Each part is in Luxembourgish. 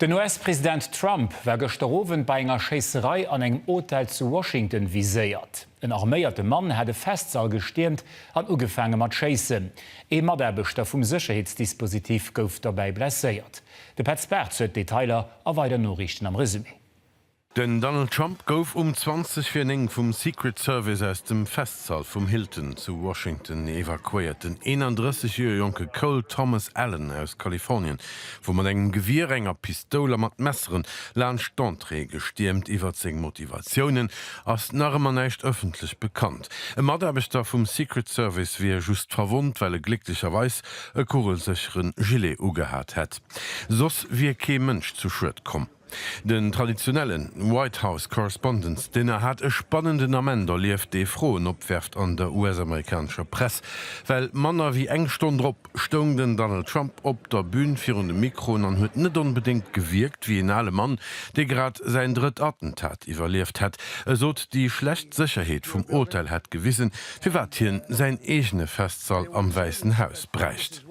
Den US-President Trump war gëschter Owend bei enger Schéisserei an engem Hotel zu Washington viséiert. En arméierte Mann hat e Festsall gestiermt an ugefaange mat schéissen. Ee Mataarbechter vum Sécherheetsdispositif gouf dobäi blesséiert. De Petz Bartz huet d'Detailer a weider Noriichten am Resumé. Den Donald Trump gouf um 20 vir 9 vum Secret Service aus dem Festsall vum Hilton zu Washington evakuéiert. Den 31 Joer jonke Cole Thomas Allen aus Kalifornien wor mat engem Gewier, enger Pistoul a mat Messeren laanscht d'Entrée gestiermt. Iwwert seng Motivatiounen ass nach ëmmer näischt ëffentlech bekannt. E Mataarbechter vum Secret Service wier just verwonnt, well e glécklecherweis e kugelsécheren Gilet ugehat hätt. Soss wier kee Mënsch zu Schued komm. Den traditionellen White House Correspondents Dinner hat e spannenden Ament erlieft, dee Froen opwerft an der US-amerikanescher Press, well manner wéi eng Stonn drop stoung den Donald Trump op der Bün virun de Mikroen an huet net onbedéngt gewierkt wéi een ale Mann, dee grad säin drëtt Attentat iwwerlieft hätt. E sot, déi schlecht Sécherheet vum Hotel hätt gewisen, firwat hien säin eegene Festsall am Wäissen Haus bräicht.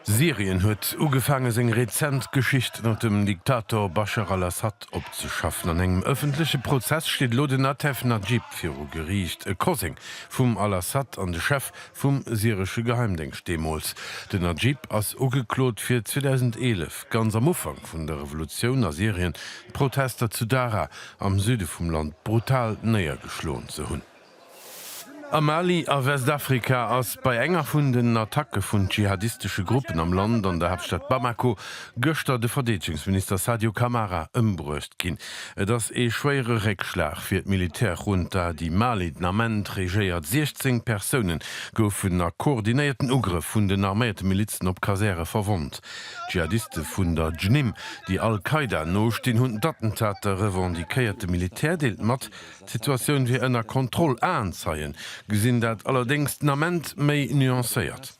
Syrien huet ugefaange seng rezent Geschicht ënnert dem Diktator Bashar al-Assad opzeschaffen. An engem ëffentleche Prozess steet elo den Atef Najib viru Geriicht, e Koseng vum al-Assad an de Chef vum syresche Geheimdéngscht deemools. Den Najib ass ugeklot fir 2011, ganz am Ufank vun der Revolutioun a Syrien, d'Protester zu Daraa am Süde vum Land brutal néiergeschloen ze hunn. Am Mali a Westafrika ass bei enger vun den Attacke vun dschihadistesche Gruppen am Land an der Haaptstad Bamako gëschter de Verdeedegungsminister Sadio Camara ëmbruecht ginn. Et ass ee schwéiere Réckschlag fir d'Militärjunta, déi Mali den Ament regéiert. 16 Persoune goufen a koordinéierten Ugrëff vun den arméierte Milizen op Kasäre verwonnt. Dschihadiste vun der JNIM, déi al-Qaida nostinn, hunn d'Attentater revendiquéiert. De Militär deelt mat, D'Situatioun wier ënner Kontroll. Aenzeie gesinn dat allerdéngs den Ament méi nuancéiert.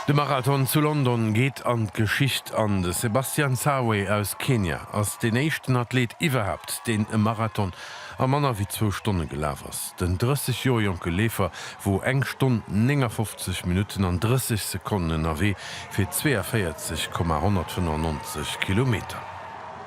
De Marathon zu London geet an d'Geschicht an. De Sebastian Sawe aus Kenia ass deen éischten Athleet iwwerhaapt, deen e Marathon a manner wéi zwou Stonne gelaf ass. Den 30 Joer jonke Leefer wor eng Stonn, 59 Minutten an 30 Sekonnen ënnerwee fir 42,195 Kilometer.